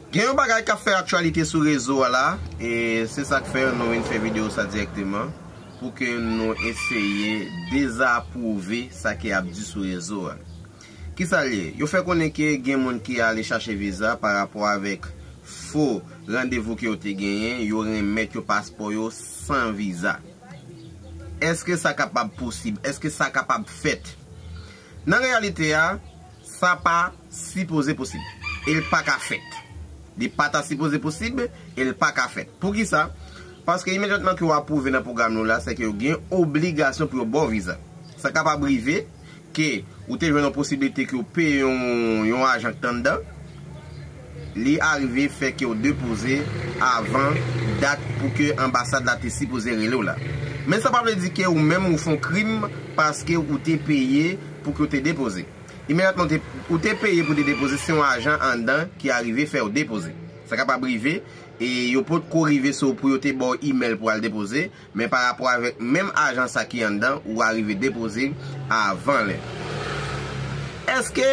Gen yon bagay kap fè aktyalite sou rezo a la, e se sak fè nou vin fè video sa direkteman, pou ke nou eseye dezapwouve sa ki ap di sou rezo a. Kisa l ye? Yo fè konnen ke gen moun ki ale chache viza pa rapò avèk fo randevou ke yo te genyen, yo renmèt yo paspò yo san viza. Eske sa kapab posib? Eske sa kapab fèt? Nan reyalite a. Sa pa sipoze posib. E l pa ka fèt. Li pa ta sipoze posib, e l pa ka fèt. Poukisa? Paske imedyatman ke w apwouve nan pwogram nou la, sèke yo gen obligasyon pou yo ba w viza. Sa kapab rive ke ou te jwenn yon posiblite ke w peye yon ajan k t anndan. Li arive fè kew depoze avan dat pou ke anbasad la te sipoze relew la. Men sa pa vle di ke ou menm ou fon krim paske ou te peye pou ke ou te depoze. Imedyatman ou te ou te peye pou te depoze se yon ajan andan ki arive fèw depoze. Sa kapab rive e yo potko rive sou ou pou yo te baw imèl pou al depoze Men pa rapò avèk menm ajan sa ki anndan ou arive depoze avan lè. Èske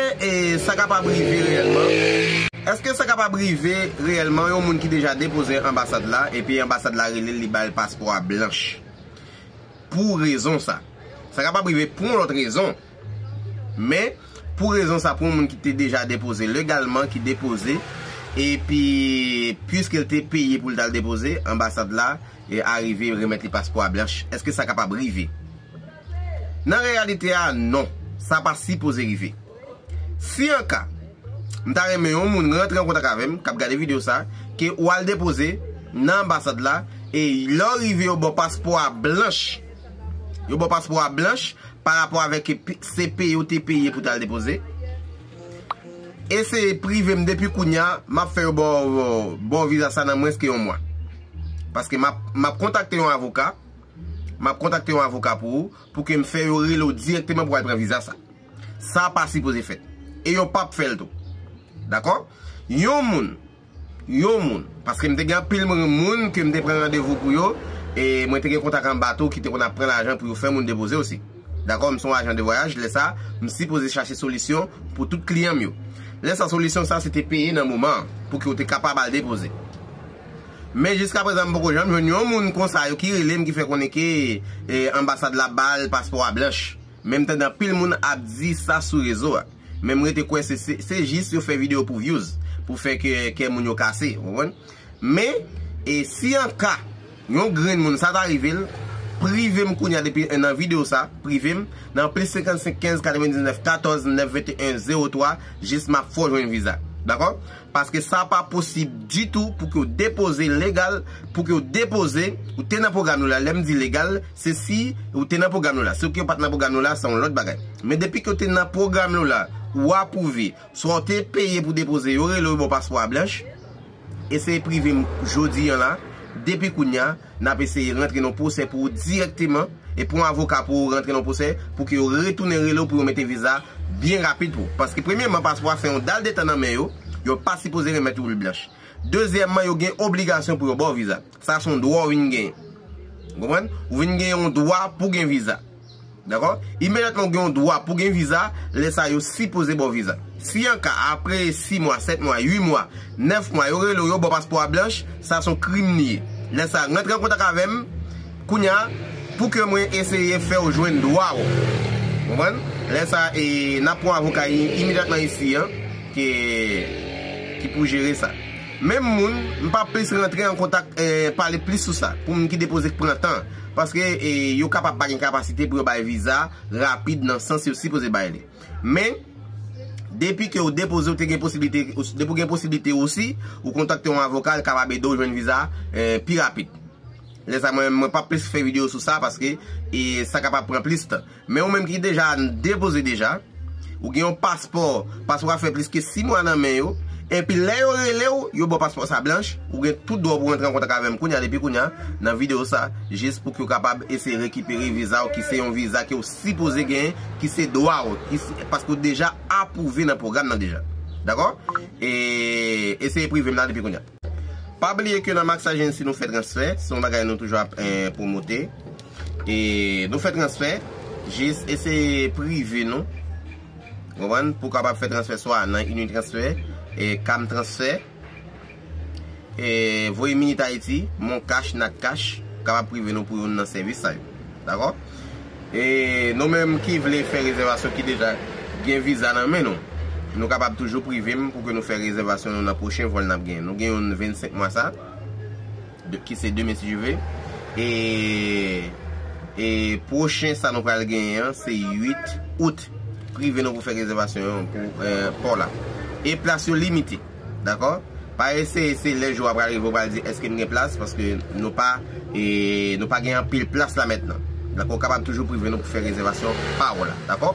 sa kapab rive reyèlman? Èske sa kapab rive reyèlman yon moun ki deja depoze anbasad la epi anbasad la rele l li ba l paspò a blanch pou rezon sa? Sa kapab rive pou yon lòt rezon. Men, pou rezon sa pou yon moun ki te deja depoze legalman ki depoze epi puiske l te peye pou l t al depoze, anbasad la arive remèt li paspò a blanch. Eske sa kapab rive? Nan reyalite a, non. Sa pa sipoze rive. Si an ka, m ta renmen yon moun rantre an kontak avè m, k ap gade videyo sa, ke ou al depoze nan anbasad la e lè w rive yo ba w paspò a blanch. Yo ba w paspò a blanch pa rapò avèk se peye ou te peye pou tal depoze eseye privem depi kounya map fè yo baw viza sa nan mwens ke yon mwa paske map kontakte yon avoka map kontakte yon avoka pou ou pou kem fè yo rele ou direkteman pou al pran viza sa sa pa sipoze fèt e yo pap fèl tou dakò yon moun Yon moun. Paske m te gen anpil moun ke m te pran randevou pou yo, e mwen te gen kontak anba tou ki te konn ap pran lajan pou yo fè moun depoze osi. Dakò, m se yon ajan de vwayaj, lè sa, m sipoze chache solisyon pou tout kliyan m yo. Lè sa solisyon sa se te peye nan moman an, pou ke yo te kapab al depoze. Men jiska prezan m poko janm jwenn yon moun konsa yo ki rele m ki fè konnen ke anbasad la ba l paspò a blanch. Men m tande anpil moun ap di sa sou rezo a. Men m rete kwè se jis yo fè video pou vyouz. Pou fè kè moun yo kase. Ou konprann? Men, e si an ka yon grenn moun sa ta rive l, prive m kounya depi nan video sa, prive m nan plis 55 15 99 14 9 21 03 jis m ap fè w jwenn viza. Dakò? Paske sa pa posib ditou pou ke w depoze legal, pou ke w depoze, ou te nan pwogram nou la, lè m di legal, se si ou te nan pwogram nou la. Si ou ke w pa t nan pwogram nou la, se yon lòt bagay. Men depi ke w te nan pwogram nou la, ou apwouve, swa w te peye pou depoze, yo rele w yo ba w paspò a blanch, e se prive m jodi an la, depi kounya. N ap eseye rantre nan pwosè pou ou dirèkteman e pran avoka pou ou rantre nan pwosè pou ke yo retounen rele ou pou yo mete viza a byen rapid pou ou. Paske premyeman paspò a fè yon dal de tan nan men yo, yo pa sipoze remèt ou li blanch. Dezyèman yo gen obligasyon pou yo ba w viza. Sa son dwa ou vin genyen. Ou konprann? Ou vin genyen yon dwa pou gen viza. Dakò? Imedyatman ou gen yon dwa pou gen viza, lè sa yo sipoze ba w viza. Si an ka apre 6 mwa, 7 mwa, 8 mwa, 9 mwa yo rele w yo ba w paspò a blanch, sa son krim li ye. Lè sa rantre an kontak avè m kounya pou ke mwen eseye fè w jwenn dwa w. Konprann? Lè sa n ap pran avoka imedyatman isi an ki pou jere sa. Menm moun, m pa plis rantre an kontak pale plis sou sa pou moun ki depoze k pran tan. Paske yo kapab pa gen kapasite pou yo bay viza rapid nan sans yo sipoze bay li. Men, depi ke ou depoze ou te gen posiblite, depi ou gen posiblite osi, ou kontakte yon avoka li kapab ede ou jwenn viza pi rapid. Lè sa mwen pa plis fè video sou sa paske sa kapab pran plis tan. Men ou menm ki deja depoze deja, ou gen yon paspò, paspò a fè plis ke 6 mwa nan men yo, enpi lè yo rele ou, yo baw paspò sa blanch, ou gen tout dwa pou rantre an kontak avèm kounya depi kounya nan video sa, jis pou ke ou kapab eseye rekipere viza ou ki se yon viza ke ou sipoze genyen, ki se dwa ou, paske ou deja apwouve nan pwogram nan deja. Dakò? E eseye privem la depi kounya. Pa bliye ke nan Max Agency nou fè transfè, se yon bagay nou toujou ap pwomote. E nou fè transfè, jis eseye prive nou, konprann, pou w kapab fè transfè swa nan Unitransfer, Cam Transfer, Voye Minit Ayiti, Moncash, Natcash, kapab prive nou pou youn nan sèvis sa yo. Dakò? E nou menm ki vle fè rezèvasyon ki deja gen viza nan men nou, nou kapab toujou prive m pou ke nou fè rezèvasyon nou nan pwochen vòl n ap gen. Nou gen youn 25 mwa sa, ki se demen si Dye ve, e e pwochen sa nou pral genyen an se 8 out. Prive nou pou fè rezèvasyon pou paw la. E plas yo limite. Dakò? Pa eseye se lè jou a pral rive ou pral di eske m gen plas paske nou pa nou pa gen anpil plas la mètnan. Dakò ou kapab toujou prive nou pou fè rezèvasyon pa ou la. Dakò?